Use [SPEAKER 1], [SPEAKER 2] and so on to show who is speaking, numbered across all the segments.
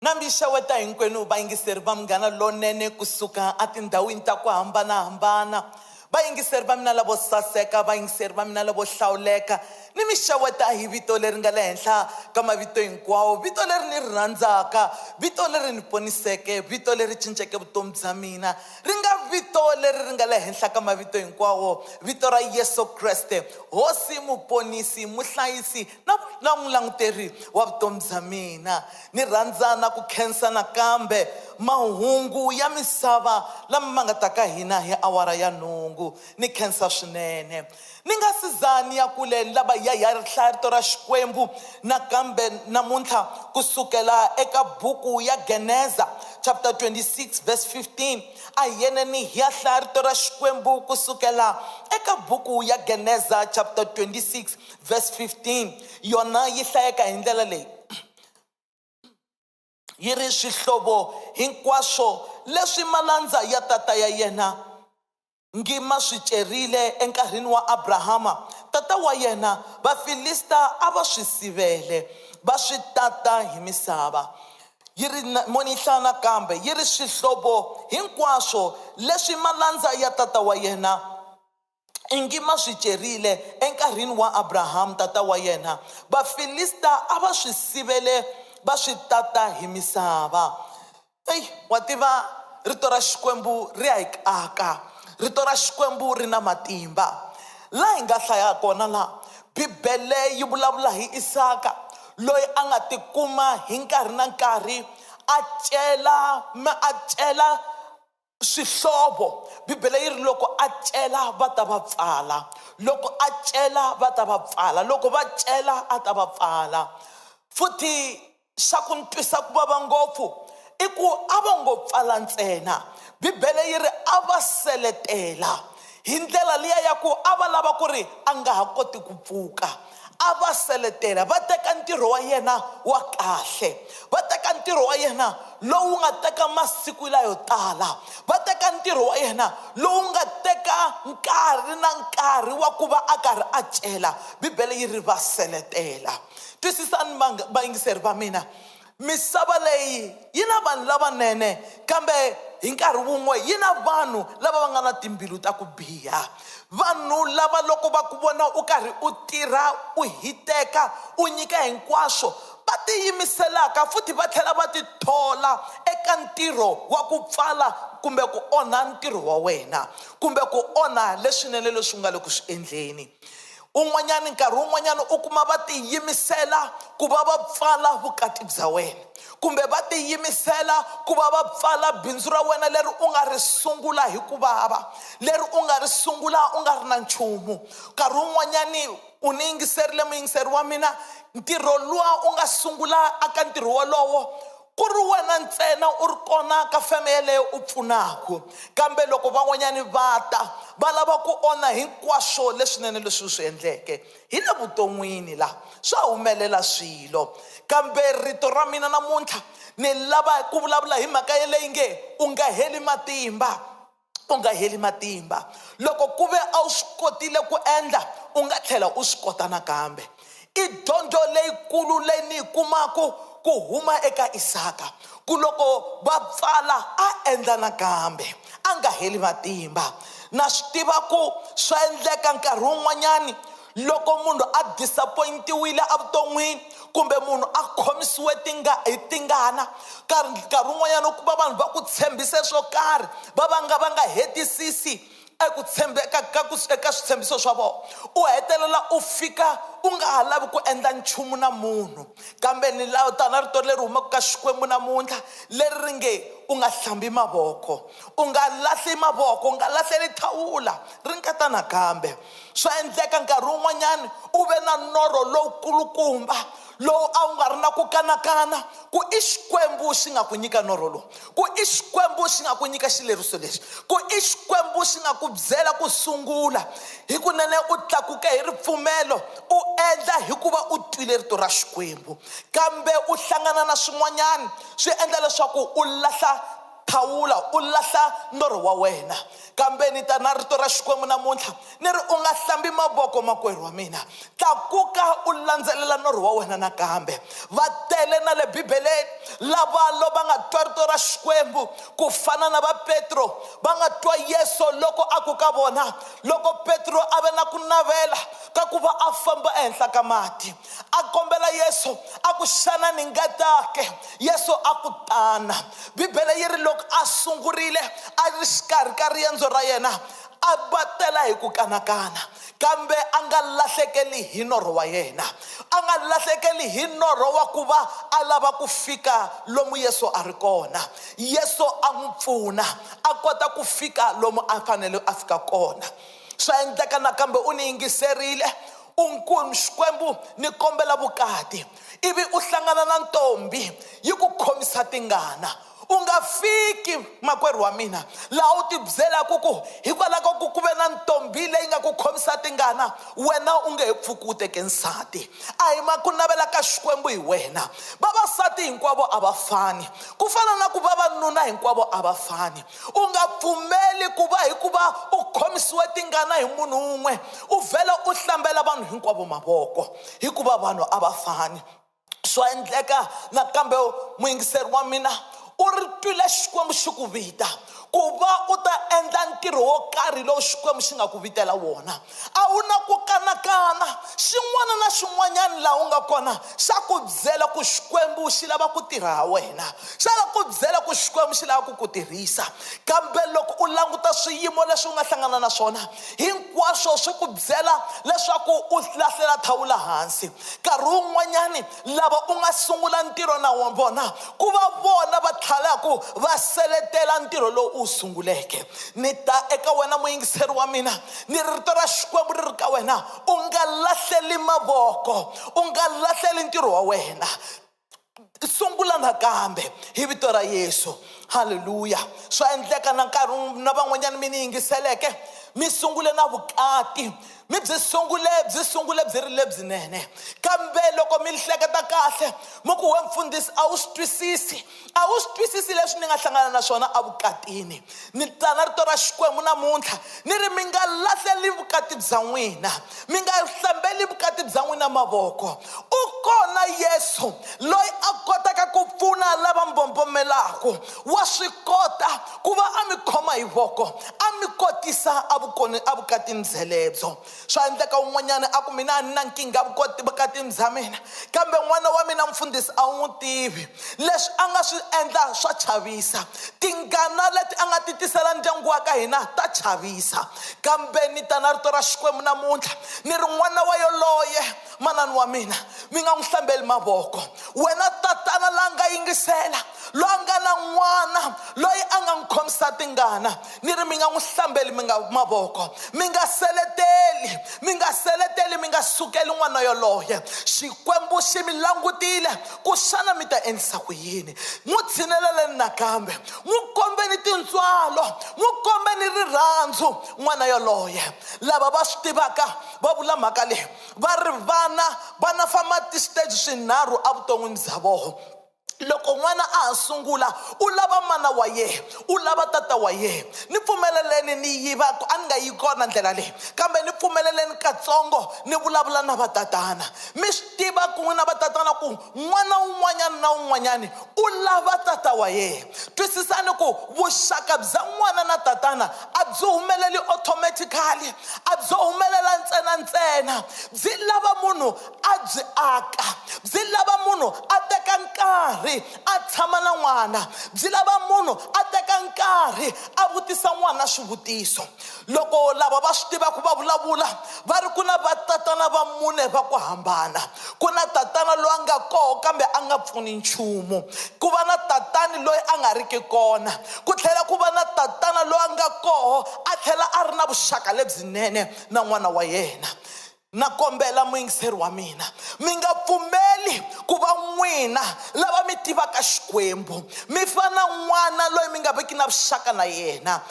[SPEAKER 1] Na mi xeweta hinkwenu vayingiseri va Munghana Lonene ku suka etindhawini ta ku hambana-hambana. Vayingiseri va mina lavo saseka, vayingiseri va mina lavo hlawuleka, ni mi xeweta hi vito leri nga le henhla ka mavito hinkwawo, vito leri ni ri rhandzaka, vito leri ni poniseke, vito leri cinceke vutomi bya mina. Ri nga vito leri ri nga le henhla ka mavito hinkwawo, vito ra Yesu Kreste, Hosi, Muponisi, Muhlayisi, na na n'wilanguteri wa vutomi bya mina ni rhandza na ku khensa nakambe mahungu ya misava lama ma nga ta ka hina hi awara ya nhungu ni khensa swinene ni nga si za ni ya kule ni lava ya ya hlaya rito ra xikwembu nakambe namuntlha ku sukela eka buku ya geneza chapter 26 verse 15 a hi yeneni hi ya hlaya rito ra xikwembu ku sukela eka buku ya geneza chapter 26 verse 15 yona yi hlayeka hi ndlela leyi yi ri swihlovo hinkwaswo leswi malandza ya tata ya yena ngi ma swi cerile enkarhini wa abrahama tata wa yena vafilista a va swi sivele va swi tata hi misava yi ri monihla nakambe yi ri swihlovo hinkwaswo leswi malandza ya tata wa yena ingi ma swi cerile enkarhini wa Abrahamu tata wa yena, Vafilista a va swi sivele va swi tata hi misava. Eyi, wa tiva, rito ra Xikwembu ri ya hi kaka. Rito ra Xikwembu ri na matimba. Laha hi nga hlaya kona la, Bibele yi vulavula hi Isaka loyi a nga tikuma hi nkarhi na nkarhi a cela, a cela swihlovo bibele yi ri loko a cela va ta va pfala loko a cela va ta va pfala loko va cela a ta va pfala futhi xa ku ni twisa ku vava ngopfu i ku a va ngo pfala ntsena bibele yi ri a va seletela hi ndlela liya ya ku a va lava ku ri a nga ha koti ku pfuka A va seletela, va teka ntirho wa yena wa kahle, va teka ntirho wa yena lowu nga teka masiku layo tala, va teka ntirho wa yena lowu nga teka nkarhi na nkarhi wa ku va a karhi a cela. Bibele yi ri va seletela. Twisisani vayingiseri va mina. Misava leyi yi na vanhu lavanene, kambe hi nkarhi wun'we yi na vanhu lava va nga na timbilu ta ku biha. Vanhu lava loko va ku vona u karhi u tirha u hiteka u nyika hinkwaswo, va tiyimiselaka futhi va tlhela va tithola eka ntirho wa ku pfala kumbe ku onha ntirho wa wena, kumbe ku onha leswinene leswi u nga le ku swi endleni. un'wanyana nkarhi wun'wanyana u kuma va tiyimisela ku va va pfala vukati bya wena kumbe va tiyimisela ku va va pfala bindzu ra wena leri u nga ri sungula hi ku vava leri u nga ri sungula u nga ri na nchumu nkarhi wun'wanyani u ni yingiserile muyingiseri wa mina ntirho luwa u nga sungula aka ntirho wolowo ku ri wena ntsena u ri kona ka feme yeleyo u pfunaka kambe loko van'wanyani va ta va lava ku onha hinkwaswo leswinene leswi u swi endleke hi le vuton'wini la swa humelela swilo kambe rito ra mina namuntlha ni lava ku vulavula hi mhaka yeleyi nge u nga heli matimba u nga heli matimba loko ku ve a wu swi kotile ku endla u nga tlhela u swi kota nakambe i dyondzo leyikulu leyi ni yi kumaku ku huma eka isaka ku loko va pfala a endla nakambe a nga heli matimba na swi tiva ku swa endleka nkarhi wun'wanyani loko munhu a disappointiwile evuton'wini kumbe munhu a khomisiwe tinga hi tingana nkarhi nkarhi wun'wanyana u kuma vanhu va ku tshembise swo karhi va va nga va nga hetisisi eku tshembeka ka ku eka switshembiso swa vona u hetelela u fika u nga ha lavi ku endla nchumu na munhu kambe ni lawo tana rito leri humaka ka xikwembu namuntlha leri ri nge u nga hlambi mavoko u nga lahli mavoko u nga lahleli thawula ri nga ta nakambe Swa endleka nkarhi wun'wanyana u ve na norho lowu kulukumba lowu a wu nga ri na ku kanakana ku i Xikwembu xi nga ku nyika norho lowu, ku i Xikwembu xi nga ku nyika xileriso lexi, ku i Xikwembu xi nga ku byela ku sungula. Hikunene u tlakuke hi ripfumelo, u endla hikuva u twile rito ra Xikwembu. Kambe u hlangana na swin'wanyana swi endla leswaku u lahla. Thawula, u lahla norho wa wena. Kambe ni ta na rito ra Xikwembu namuntlha, ni ri, U nga hlambi mavoko, makwerhu wa mina. Tlakuka u landzelela norho wa wena nakambe. Va tele na le Bibeleni lava lo va nga twa rito ra Xikwembu, ku fana na va Petro. Va nga twa Yesu loko a ku ka vona, loko Petro a ve na ku navela ka ku va a famba ehenhla ka mati, a kombela yesu a ku xana ni nga ta ke yesu a ku tana bibele yi ri loko a sungurile a ri xikarhi ka riendzo ra yena a va tela hi ku kanakana kambe a nga lahlekeli hi norho wa yena a nga lahlekeli hi norho wa ku va a lava ku fika lomu yesu a ri kona yesu a n'wi pfuna a kota ku fika lomu a fanele a fika kona Swa endleka nakambe u ni yingiserile, u ku, Xikwembu, ni kombela vukati. Ivi u hlangana na ntombhi yi ku khomisa tingana. U nga fiki, makwerhu wa mina, laha u tibyelaka ku hikwalaho ka ku ku ve na ntombhi leyi nga ku khomisa tingana, wena u nge he pfuki u teke nsati. A hi ma ku navela ka Xikwembu hi wena. Vavasati hinkwavo a va fani, ku fana na ku vavanuna hinkwavo a va fani. u nga pfumeli ku va hi ku va u khomisiwe tingana hi munhu un'we u vhela u hlambela vanhu hinkwavo mavoko hikuva vanhu a va fani swa endleka nakambe muyingiseri wa mina u ri twile xikwembu xi ku vita ku va u ta endla ntirho wo karhi lowu xikwembu xi nga ku vitela wona A wu na ku kanakana, xin'wana na xin'wanyana laha u nga kona xa ku byela ku Xikwembu xi lava ku tirha ha wena, xa la ku byela ku Xikwembu xi lava ku ku tirhisa. Kambe loko u languta swiyimo leswi u nga hlangana na swona, hinkwaswo swi ku byela leswaku u lahlela thawula hansi. Nkarhi wun'wanyani. lava u nga sungula ntirho na vona ku va vona va tlhalaku va seletela ntirho lowu u wu sunguleke ni ta eka wena muyingiseri wa mina ni rito ra xikwembu ri ri ka wena u nga lahleli mavoko u nga lahleli ntirho wa wena sungula nakambe hi vito ra yesu halleluya swa endleka na nkarhi na van'wanyana mi ni yingiseleke mi sungule na vukati mi byi sungule byi sungule byi ri lebyinene kambe loko mi hleketa kahle mi ku we mfundhisi a wu swi twisisi a wu swi twisisi leswi ni nga hlangana na swona evukatini ni tsana rito ra xikwembu namuntlha ni ri mi nga lahleli vukati bya n'wina mi nga hlambeli vukati bya n'wina mavoko u kona yesu loyi a kotaka ku pfuna lava mbombomelaku wa swi kota ku va a mi khoma hi voko a mi kotisa avukoni avukatini byelebyo swa endleka un'wanyana a ku mina a ni na nkingha vukoti vukatini bya mina kambe n'wana wa mina mfundhisi a wu n'wi tivi leswi a nga swi endla swa chavisa tingana leti a nga ti tisela ndyangu wa ka hina ta chavisa kambe ni ta na rito ra xikwembu namuntlha ni ri n'wana wa yoloye manani wa mina mi nga n'wi hlambeli mavoko wena tatana la nga yingisela loyi a nga na n'wana loyi a nga n'wi khomisa tingana ni ri mi nga n'wi hlambeli mi nga mavoko mi nga seleteli mi nga seleteli mi nga sukeli n'wana yoloye xikwembu xi mi langutile ku xana mi ta endlisa ku yini n'wi tshineleleni nakambe n'wi kombeni tintswalo n'wi kombeni rirhandzu n'wana yoloye lava va swi tivaka va vula mhaka leyi va ri vana vana famba tisiteji swinharhu evuton'wini bya vona loko n'wana a ha sungula u lava mana wa yena u lava tata wa yena ni pfumeleleni ni yiva ku a ni nga yi kona ndlela leyi kambe ni pfumeleleni katsongo ni vulavula na vatatana mi swi tiva ku n'wina vatatana ku n'wana un'wanyana na un'wanyana u lava tata wa yena twisisani ku vuxaka bya n'wana na tatana a byi humeleli automatically a byo humelela ntsena ntsena byi lava munhu a byi aka byi lava munhu a teka nkarhi a tshama na n'wana byi lava munhu a teka nkarhi a vutisa n'wana swivutiso loko lava va swi tivaka va vulavula va ri ku na vatatana va mune va ku hambana ku na tatana loyi a nga koho kambe a nga pfuni nchumu ku va na tatani loyi a nga riki kona ku tlhela ku va na tatana loyi a nga koho a tlhela a ri na vuxaka lebyinene na n'wana wa yena Na kombela, muyingiseri wa mina, mi nga pfumeli ku va n'wina lava mi tivaka Xikwembu mi fana na n'wana loyi mi nga viki na vuxaka na yena.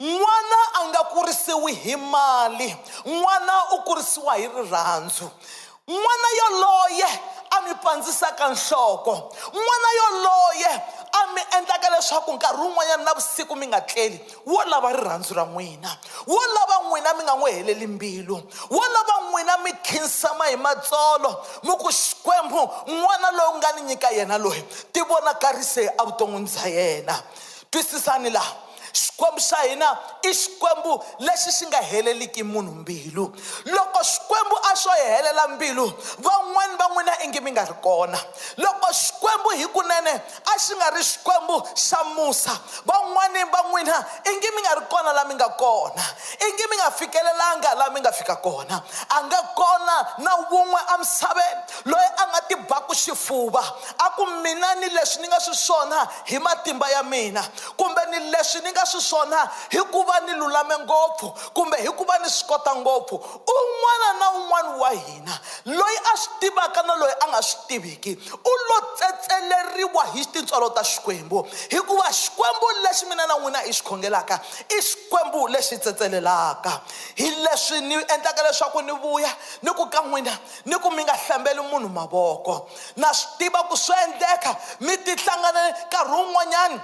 [SPEAKER 1] N'wana a nga kurisiwi hi mali, n'wana u kurisiwa hi rirhandzu. N'wana yoloye a mi pandzisaka nhloko, n'wana yoloye a mi endlaka leswaku nkarhi wun'wanyana navusiku mi nga tleli, Wo lava rirhandzu ra n'wina, wo lava n'wina mi nga n'wi heleli mbilu, wo lava n'wina mi khinsama hi matsolo mi ku, Xikwembu, n'wana loyi u nga ni nyika yena loyi, tivonakarise evuton'wini bya yena. Twisisani laha, Xikwembu xa hina i Xikwembu lexi xi nga heleliki munhu mbilu. Loko Xikwembu a xo hi helela mbilu, van'wana va n'wina ingi mi nga ri kona. Loko Xikwembu hikunene A xi nga ri Xikwembu xa Musa, van'wana va n'wina ingi mi nga ri kona laha mi nga kona, ingi mi nga fikelelanga laha mi nga fika kona. A nga kona na wun'we emisaveni loyi a nga tibaku xifuva a ku, Mina ni leswi ni nga swiswona hi matimba ya mina, kumbe ni leswi ni nga swiswona hi ku va ni lulame ngopfu, kumbe hi ku va ni swi kota ngopfu. Un'wana na un'wana wa hina, loyi a swi tivaka na loyi a nga swi tiviki, u lo tsetseleriwa hi tintswalo ta Xikwembu, hikuva Xikwembu lexi mina na n'wina hi xi khongelaka i Xikwembu lexi tsetselelaka. Hi leswi ni endlaka leswaku ni vuya ni ku ka n'wina ni ku mi nga hlambeli munhu mavoko. Na swi tiva ku swo endleka mi tihlangane nkarhi wun'wanyana,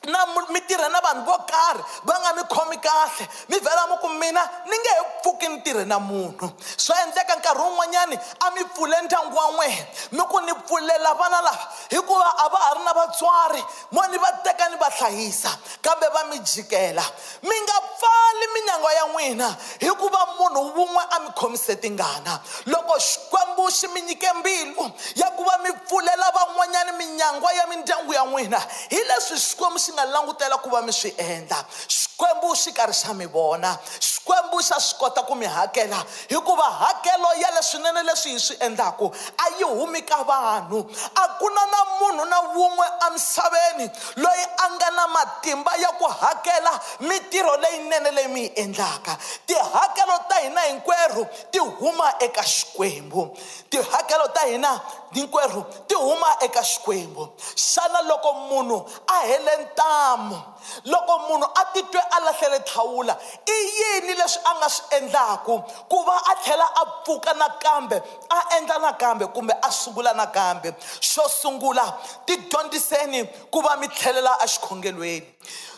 [SPEAKER 1] na mi tirha na vanhu vo karhi va nga mi khomi kahle mi vhela mi ku mina ni nge he pfuki ni tirhe na munhu swa endleka nkarhi wun'wanyani a mi pfule ndyangu wa n'wehe mi ku ni pfulela vana lava hikuva a va ha ri na vatswari mo ni va teka ni va hlayisa kambe va mi jikela Mi nga pfali minyangwa ya n'wina hi ku va munhu wun'we a mi khomise tingana. Loko Xikwembu xi mi nyike mbilu ya ku va mi pfulela van'wanyana minyangwa ya mindyangu ya n'wina, hi leswi Xikwembu xi nga langutela ku va mi swi endla. Xikwembu xi karhi xa mi vona. Xikwembu xa swi kota ku mi hakela hikuva hakelo ya leswinene leswi hi swi endlaka a yi humi ka vanhu. A ku na na munhu na wun'we emisaveni loyi a nga na matimba ya ku hakela mitirho leyinene leyi mi yi endlaka. Tihakelo ta hina hinkwerhu ti huma eka Xikwembu. Tihakelo ta hina hinkwerhu ti huma eka Xikwembu. Xana loko munhu a hele ntamu, loko munhu a titwe a lahlele thawula, i yini leswi a nga swi endlaka ku va a tlhela a pfuka nakambe? a endla nakambe kumbe a sungula nakambe xo sungula tidyondziseni ku va mi tlhelela exikhongelweni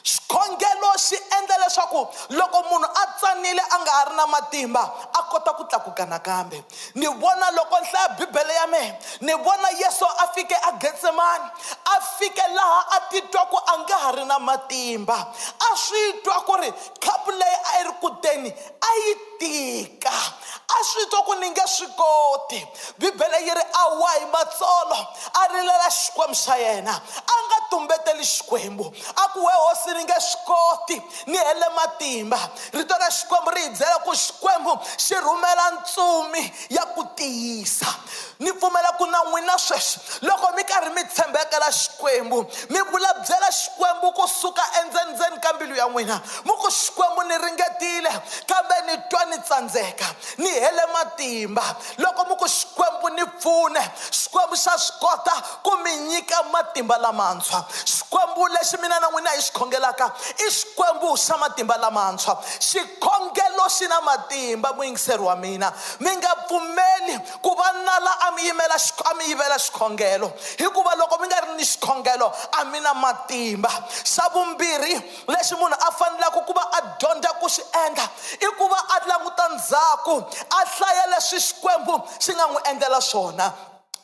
[SPEAKER 1] xikhongelo xi endla leswaku loko munhu a tsanile a nga ha ri na matimba a kota ku tlakuka nakambe ni vona loko ni hlaya bibele ya mehe ni vona yesu a fike a getsemani a fike laha a titwa ku a nga ha ri na matimba a swi twa ku ri khapu leyi a yi ri kuteni a yi tika a swi twa ku ni nge swi koti bibele yi ri a wa hi matsolo a rilela xikwembu xa yena a nga tumbeteli xikwembu a ku we hosi ni nge swi koti ni hele matimba rito ra xikwembu ri hi byela ku xikwembu xi rhumela ntsumi ya ku tiyisa Ni pfumela ku na n'wina sweswi, loko mi karhi mi tshembekela Xikwembu, mi vulabyela Xikwembu ku suka endzendzeni ka mbilu ya n'wina, mu ku, Xikwembu, ni ringetile, kambe ni twa ni tsandzeka, ni hele matimba. Loko mu ku, Xikwembu, ni pfune, Xikwembu xa swi kota ku mi nyika matimba lamantshwa. Xikwembu lexi mina na n'wina hi xi khongelaka i Xikwembu xa matimba lamantshwa. Xikhongelo xi na matimba, muyingiseri wa mina. Mi nga pfumeli. Ku va na la a mi yimela xik-, a mi yivela xikhongelo, hikuva loko mi nga ri ni xikhongelo a mi na matimba. Xa vumbirhi lexi munhu a fanelaka ku va a dyondza ku xi endla i ku va a languta ndzhaku, a hlaya leswi Xikwembu xi nga n'wi endlela swona.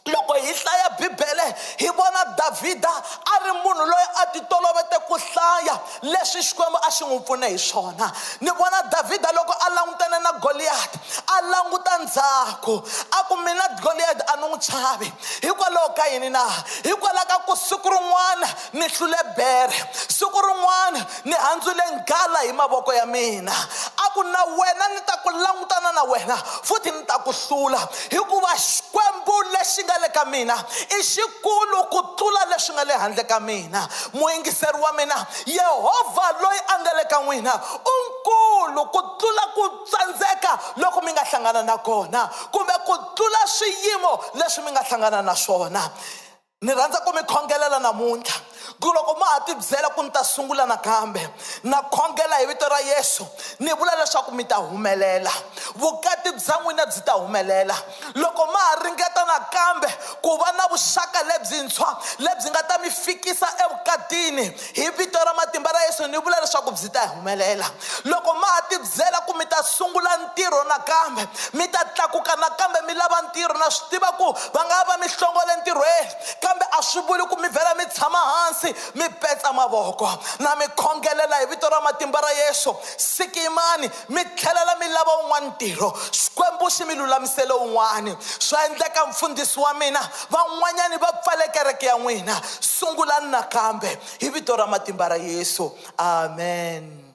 [SPEAKER 1] Loko hi hlaya Bibele hi vona Davhida a ri munhu loyi a ti tolovete ku hlaya, Leswi Xikwembu a xi n'wi pfune hi swona. Ni vona Davhida loko a langutane na Goliyati, a languta ndzhaku, a ku, Mina Goliyati a ni n'wi chavi. Hikwalaho ka yini na? Hikwalaho ka ku siku rin'wana ni hlule bere, siku rin'wana ni handzule nghala hi mavoko ya mina. A ku, Na wena ni ta ku langutana na wena futhi ni ta ku hlula. hikuva xikwembu lexi nga le ka mina i xikulu ku tlula leswi nga le handle ka mina muyingiseri wa mina yehovha loyi a nga le ka n'wina u nkulu ku tlula ku tsandzeka loko mi nga hlangana na kona kumbe ku tlula swiyimo leswi mi nga hlangana na swona Ni rhandza ku mi khongelela namuntlha ku loko ma ha tibyela ku ni ta sungula nakambe na khongela hi vito ra Yesu ni vula leswaku mi ta humelela vukati bya n'wina byi ta humelela loko ma ha ringeta nakambe ku va na vuxaka lebyintshwa lebyi nga ta mi fikisa evukatini Hi vito ra matimba ra Yesu ni vula leswaku byi ta humelela. Loko ma ha tibyela ku mi ta sungula ntirho nakambe, mi ta tlakuka nakambe mi lava ntirho, na swi tiva ku va nga va mi hlongole ntirhweni, kambe a swi vuli ku mi vhela mi tshama hansi mi petsa mavoko. Na mi khongelela hi vito ra matimba ra Yesu, sikimani, Mi tlhelela mi lava wun'wana ntirho, Xikwembu xi mi lulamisele wun'wana. Swa endleka mfundhisi wa mina, van'wanyani va pfale kereke ya n'wina. Sungulani nakambe, hi Vito ra matimba ra Yesu. Amen.